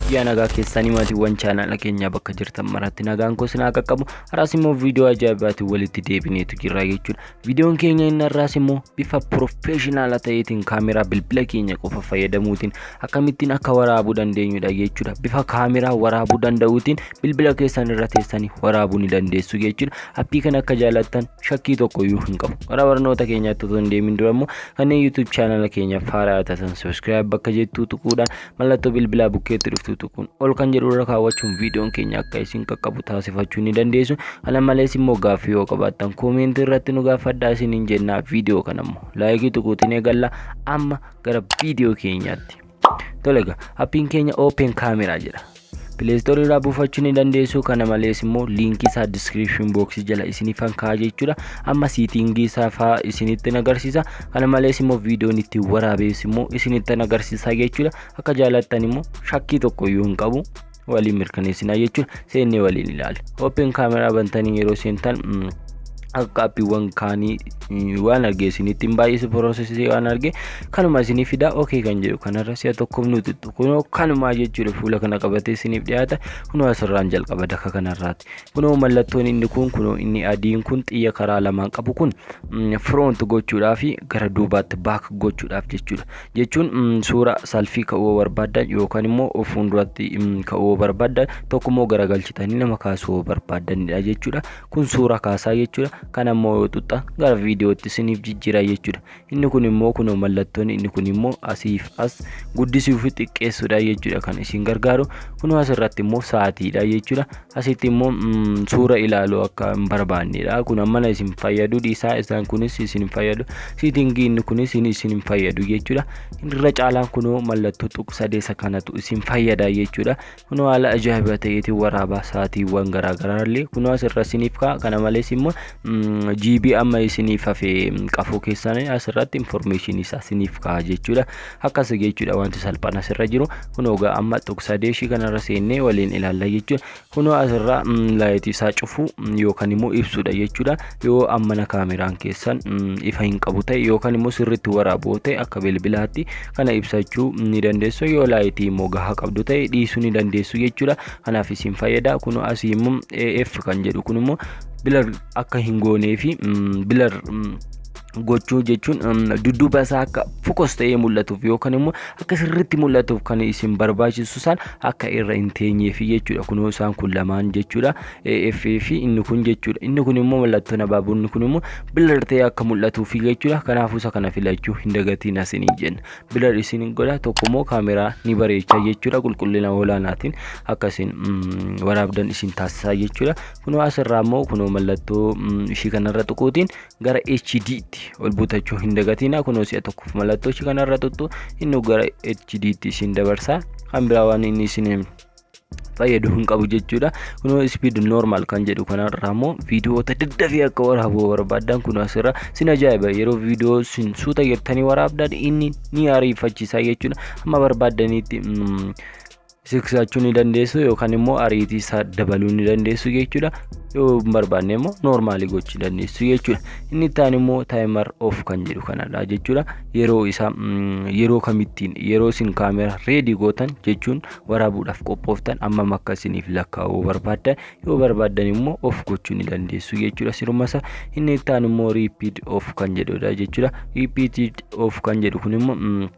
Biyyaa nagaa keessanii maatiiwwan chaanaala keenyaa bakka jirtan maratti nagaan koo sinaa qaqqabu haraas immoo viidiyoo ajaa'ibaatiin walitti deebineetu jirra jechuudha Viidiyoon keenya inni har'aas immoo bifa pirofeeshinaala ta'eetiin kaameraa bilbila keenya qofa fayyadamuutiin akkamittiin akka waraabuu dandeenyudha jechuudha. Bifa kaameraa waraabuu danda'uutiin bilbila keessan irra teessanii waraabuu ni dandeessu jechuudha. Appii kana akka jaalattan shakkii tokko iyyuu hin qabu. Gara barnoota keenyaatti otoo hin deemin dura immoo kanneen YouTube chaanala keenya faaraa taatan subscribe bakka jettuu tuquudhaan Mallattoo bilbilaa bukkeetti dhuftu tuquun ol kan jedhu irra kaawwachuun viidiyoon keenya akka isin qaqqabu taasifachuu ni dandeessu. Kana malees immoo gaaffii yoo qabaattan koomeentii irratti nu gaafadhaa isiniin jennaa viidiyoo kana immoo laayikii tuquutiin eegalla amma gara viidiyoo keenyaatti. Tole egaa appiin keenya open camera jedha. Play Store irraa buufachuu ni dandeessu. Kana malees immoo liinkii isaa description box jala isiniif kan kaa'aa jechuudha. Amma siitingii isaa fa'aa isinitti agarsiisa. Kana malees immoo viidiyoon itti waraabees immoo isinitti agarsiisa jechuudha. Akka jaalattan immoo shakkii tokko iyyuu hin qabu. Waliin mirkaneessinaa jechuudha. Seennee waliin ilaali. Open kaameraa bantanii yeroo seentan akka appiiwwan kaanii waan arge isinitti hin baay'ise piroosesii waan arge kanuma isinii fidaa okee kan jedhu kanarra si'a tokkoof nuti kunoo kanumaa jechuudha fuula kana qabatee isiniif dhiyaata kunoo asirraan jalqaba daka kanarraatti kunoo mallattoon inni kun kunoo inni adiin kun xiyya karaa lamaan qabu kun firoont gochuudhaa fi gara duubaatti baak gochuudhaaf jechuudha jechuun suura salfii ka'uu barbaadan yookaan immoo fuulduratti ka'uu barbaadan tokko immoo garagalchitanii nama kaasuu barbaadanidha jechuudha kun suura kaasaa jechuudha kan ammoo yoo xuxxan gara viidiyootti isiniif jijjiira jechuudha inni kun immoo kunoo mallattoon inni kun immoo asiif as guddisuu fi xiqqeessuudha jechuudha kan isin gargaaru kunoo asirratti immoo sa'aatiidha jechuudha asitti immoo suura ilaaluu akka hin barbaannedha kun ammana isin fayyadu dhiisaa isaan kunis isin hin fayyadu siitingii inni kunis isin hin fayyadu jechuudha irra caalaan kunoo mallattoo tuqsadee isa kanatu isin fayyada jechuudha Kunoo haala ajaa'iba ta'eetiin waraaba sa'aatiiwwan garaagaraa illee kunoo asirra isiniif ka'a. Kana malees immoo GB amma isiniif hafe qafoo keessaan asirratti informeeshinii isaa isiniif ka'a jechuudha. Akkas jechuudha wanti salphaan asirra jiru. Kunoo egaa amma tuqsaa deeshii kanarra seennee waliin ilaalla jechuudha. Kunoo asirra laayitii isaa cufuu yookaan immoo ibsuudha jechuudha. yoo ammana kaameraan keessan ifa hin qabu ta'e yookaan immoo sirriitti waraaboo ta'e akka bilbilaatti kana ibsachuu ni dandeessu yoo laayitii immoo gahaa qabdu ta'e dhiisuu ni dandeessu jechuudha kanaaf isin fayyada kun asii immoo AF kan jedhu kun immoo bilar akka hin goonee fi bilar gochuu jechuun dudduuba isaa akka fokos ta'ee mul'atuuf yookaan immoo akka sirriitti mul'atuuf kan isin barbaachisu isaan akka irra hin teenyeef jechuudha kunoo isaan kun lamaan jechuudha AF fi inni kun jechuudha. Inni kun immoo mallattoon abaaboo inni kun immoo bilar ta'ee akka mul'atuufi jechuudha. Kanaafuu isa kana filachuu hin dagatiin asiniin jenna. Bilar isin godha tokko immoo kaameraa ni bareecha jechuudha. Qulqullina olaanaatiin akka isin waraabdan isin taasisaa jechuudha. Kunoo asirraa immoo kunoo mallattoo ishii kanarra tuquutiin gara HD'tti ol butachuu hin dagatiina. Kunoo si'a tokkoof mallattoo ishii kanarra tuttu inni gara HD'tti isin dabarsa. Kan biraa waan inni isin fayyadu hin qabu jechuudha kunoo speed normal kan jedhu kanarraa immoo viidiyoota daddafee akka waraabu barbaadan kun asirra sin ajaa'iba yeroo viidiyoo sin suuta jettanii waraabdan inni ni ariifachiisa jechuudha amma barbaadanitti siksachuu ni dandeessu yookaan immoo ariitii isaa dabaluu ni dandeessu jechuudha yoo hin barbaanne immoo noormaalii gochuu dandeessu jechuudha inni itti aanu immoo taayimar of kan jedhu kanadha jechuudha yeroo isaa yeroo kamittiin yeroo isin kaameraa reedii gootan jechuun waraabuudhaaf qophooftan ammam akka isiniif lakkaa'uu barbaaddan yoo barbaaddan immoo of gochuu ni dandeessu jechuudha sirumasa inni itti aanu immoo riipiid of kan jedhudha jechuudha riipiid of kan jedhu kun immoo mm,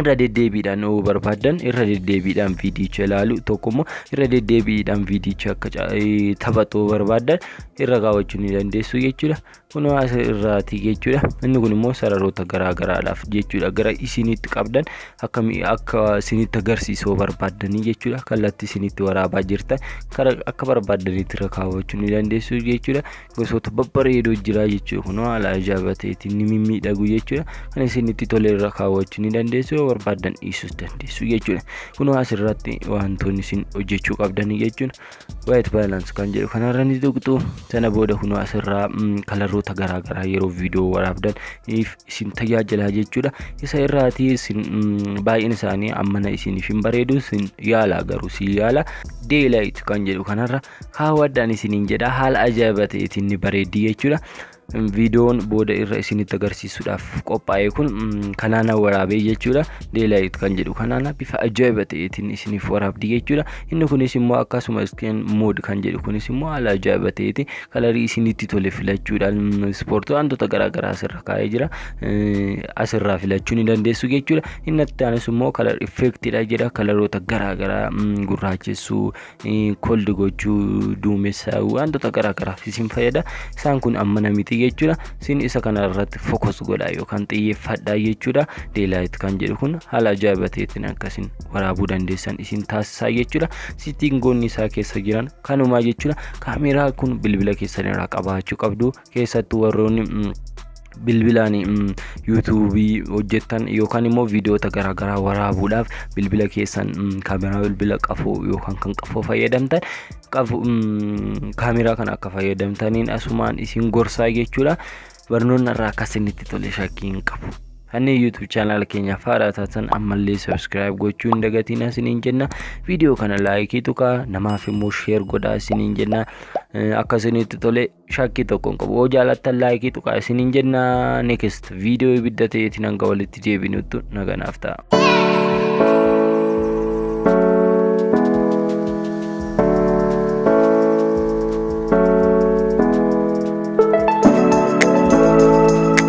irra deddeebiidhaan yoo barbaaddan irra deddeebiidhaan viidiyicha ilaalu tokko immoo irra deddeebiidhaan viidiyicha akka ca- eh, taphatu yoo barbaaddan irra kaawwachuu ni dandeessu jechuudha Kunoo as irraati jechuudha. Inni kun immoo sararoota garaa garaadhaaf jechuudha. Gara isinitti qabdan akka akka isinitti agarsiisuu barbaaddanii jechuudha. Kallattii isinitti waraabaa jirtan kara akka barbaaddanitti irra kaawwachuu ni dandeessu jechuudha. Gosoota babbareedoo jira jechuudha. Kunoo haala ajaa'ibateetiin ni mimmiidhagu jechuudha. Kan isinitti tole irra kaawwachuu ni dandeessu yoo barbaaddan dhiisuus dandeessu jechuudha. Kunoo as irratti wantoonni isin hojjechuu qabdanii jechuudha. White balance kan jedhu kanarra ni tuqxu sana booda kunoo asirraa kalarroota garaagaraa yeroo viidiyoo waraabdan isin tajaajilaa jechuudha isa irraati isin baay'een isaanii ammana isiniif hin bareedu isin yaala garuu si yaala daylight kan jedhu kanarra kaawwadhaan isiniin jedha haala ajaa'iba ta'eetiin ni bareeddi jechuudha viidiyoon booda irra isinitti agarsiisuudhaaf qophaa'e kun kanaana waraabee jechuudha deelaayit kan jedhu kanaana bifa ajaa'iba ta'eetiin isiniif waraabdi jechuudha inni kunis immoo akkasuma iskeen mood kan jedhu kunis immoo haala ajaa'iba ta'eeti kalarii isinitti tole filachuudhaan ispoortii wantoota garaagaraa asirra kaa'ee jira asirraa filachuu ni dandeessu jechuudha inni itti aanus immoo kalar effektidha jedha kalaroota garaagaraa gurraachessuu koldi gochuu duumessa wantoota garaagaraaf isin fayyada isaan kun ammana miti jechuudha isin isa kana irratti fokus godha yookaan xiyyeeffadha jechuudha deelaayit kan jedhu kun haala ajaa'iba ta'eetiin akkasiin waraabuu dandeessan isin taasisaa jechuudha sittiin goonni isaa keessa jiran kanumaa jechuudha kaameeraa kun bilbila keessan irraa qabaachuu qabdu keessattuu warroonni mm, bilbilaan mm, yuutuubii hojjettan yookaan immoo viidiyoota garaagaraa waraabuudhaaf bilbila keessan mm, kaameraa bilbila qafoo yookaan kan qafoo fayyadamtan qafu mm, kaameraa kana akka fayyadamtaniin asumaan isin gorsaa jechuudha barnoonni irraa akka isinitti tole shakkii hin qabu. Kanneen YouTube channel keenyaaf haaraa taatan ammallee subscribe gochuu hin dagatinaa isiniin jenna. Viidiyoo kana laayikii tuqaa namaaf immoo share godhaa isiniin jenna. Eh, Akka isinitti tole shakkii tokko hin qabu yoo jaalattan laayikii tuqaa isiniin jenna next viidiyoo ibidda ta'eetiin hanga walitti deebinutti naganaaf ta'a.